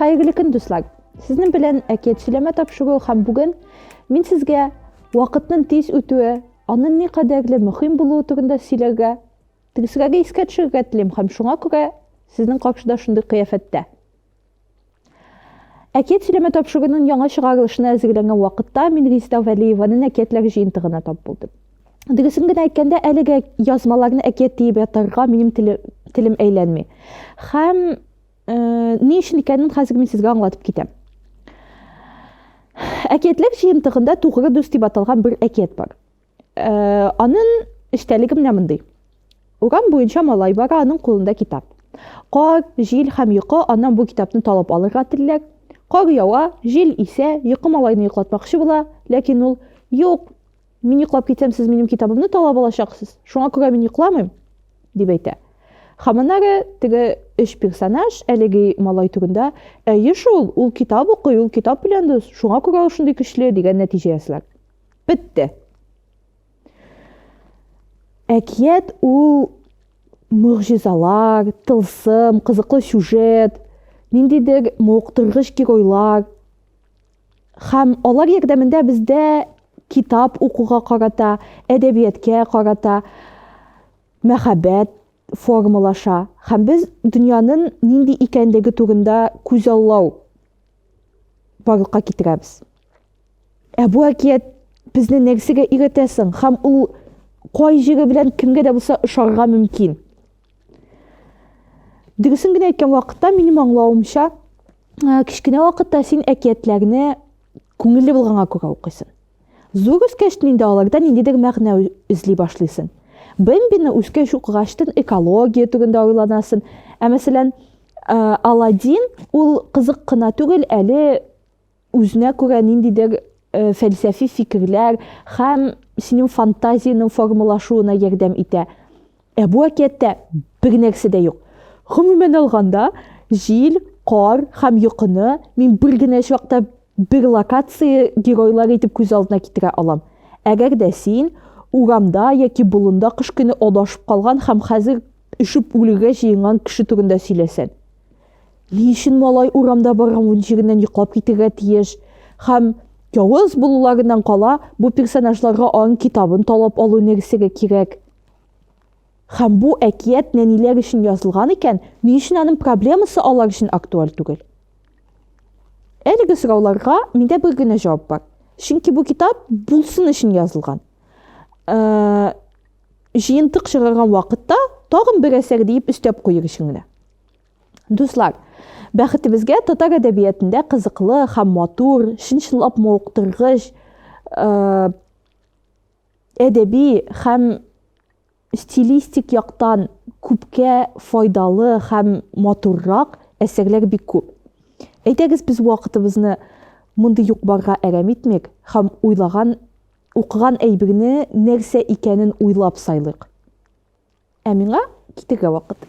Хәерле көн, дуслар! Сезнең белән әкият сөйләмә тапшыру һәм бүген мин сезгә вакытның тиз үтүе, аның ни кадәрле мөһим булуы турында сөйләргә, тирсәгә искә төшерергә телим һәм шуңа күрә сезнең каршыда шундый кыяфәттә. Әкият сөйләмә тапшыруының яңа чыгарылышына әзерләнгән вакытта мин Резеда Вәлиеваның әкиятләр җыентыгына тап булдым. Дөресен генә әйткәндә, әлеге язмаларны әкият диеп ятарга минем телем әйләнми. Һәм э, ни өчен икәнен хәзер мин сезгә аңлатып китәм. Әкиятләр җыентыгында Тугры дус дип аталган бер әкият бар. Э, анын эчтәлеге менә мондый. Урам буенча малай бара, аның кулында китап. Кар, җил һәм йокы аннан бу китапны талап алырга телиләр. Кар ява, җил исә, йокы малайны йоклатмакчы була, ләкин ул юк, мин йоклап китсәм, сез минем китабымны талап алачаксыз. Шуңа күрә мин йокламыйм, дип әйтә. Һәм аннары теге өч персонаж әлеге малай турында, әйе шул, ул китап укый, ул китап белән дус, шуңа күрә ул шундый көчле дигән нәтиҗә ясыйлар. Бетте. Әкият ул мөгъҗизалар, тылсым, кызыклы сюжет, ниндидер муыктыргыч геройлар һәм алар ярдәмендә бездә китап укуга карата, әдәбияткә карата мәхәббәт формалаша һәм без дөньянын нинди икәнлеге турында күзаллау барлыкка китерәбез. Ә бу әкият безне нәрсәгә өйрәтә соң һәм ул кай җире белән кемгә дә булса ошарга мөмкин? Дөресен генә әйткән вакытта минем аңлавымча, кечкенә вакытта син әкиятләрне күңелле булганга күрә укыйсың. Зур үскәчтен инде аларда ниндидер мәгънә эзли башлыйсын. Бэмбины үскәч укыгачтын экология турында уйланасын. Ә мәсәлән, Аладдин ул кызык кына түгел, әле үзенә күрә ниндидер фәлсәфи фикерләр һәм синең фантазиянең формалашуына ярдәм итә. Ә бу әкияттә бер генәсе дә юк. Гомумән алганда, җил, кар һәм йокыны мин бер генә чакта бер локация геройлары итеп күз алдына китерә алам. Әгәр дә син урамда яки болында кыш көне адашып калган һәм хәзер өшеп үлергә җыенган кеше турында сөйләсәң. Ни өчен малай урамда барган җиреннән йоклап китергә тиеш? Һәм явыз булуларыннан кала, бу персонажларга аның китабын талап алу энергиясе кирәк. Һәм бу әкият нәниләр өчен язылган икән, ни өчен аның проблемасы алар өчен актуаль түгел? Әлеге сорауларга миндә бер генә җавап бар. Чөнки бу китап булсын өчен язылган. Э, җыентык чыгарган вакытта тагын бер әсәр диеп өстәп куер өчен генә. Дуслар, бәхетебезгә татар әдәбиятында кызыклы һәм матур, чынчылап мавыктыргыч, э, әдәби һәм стилистик яктан күпкә файдалы һәм матуррак әсәрләр бик күп. Әйдәгез без вакытыбызны мондый юк-барга әрәм итмик һәм уйлаган, укыган әйберне нәрсә икәнен уйлап сайлыйк. Ә миңа китергә вакыт.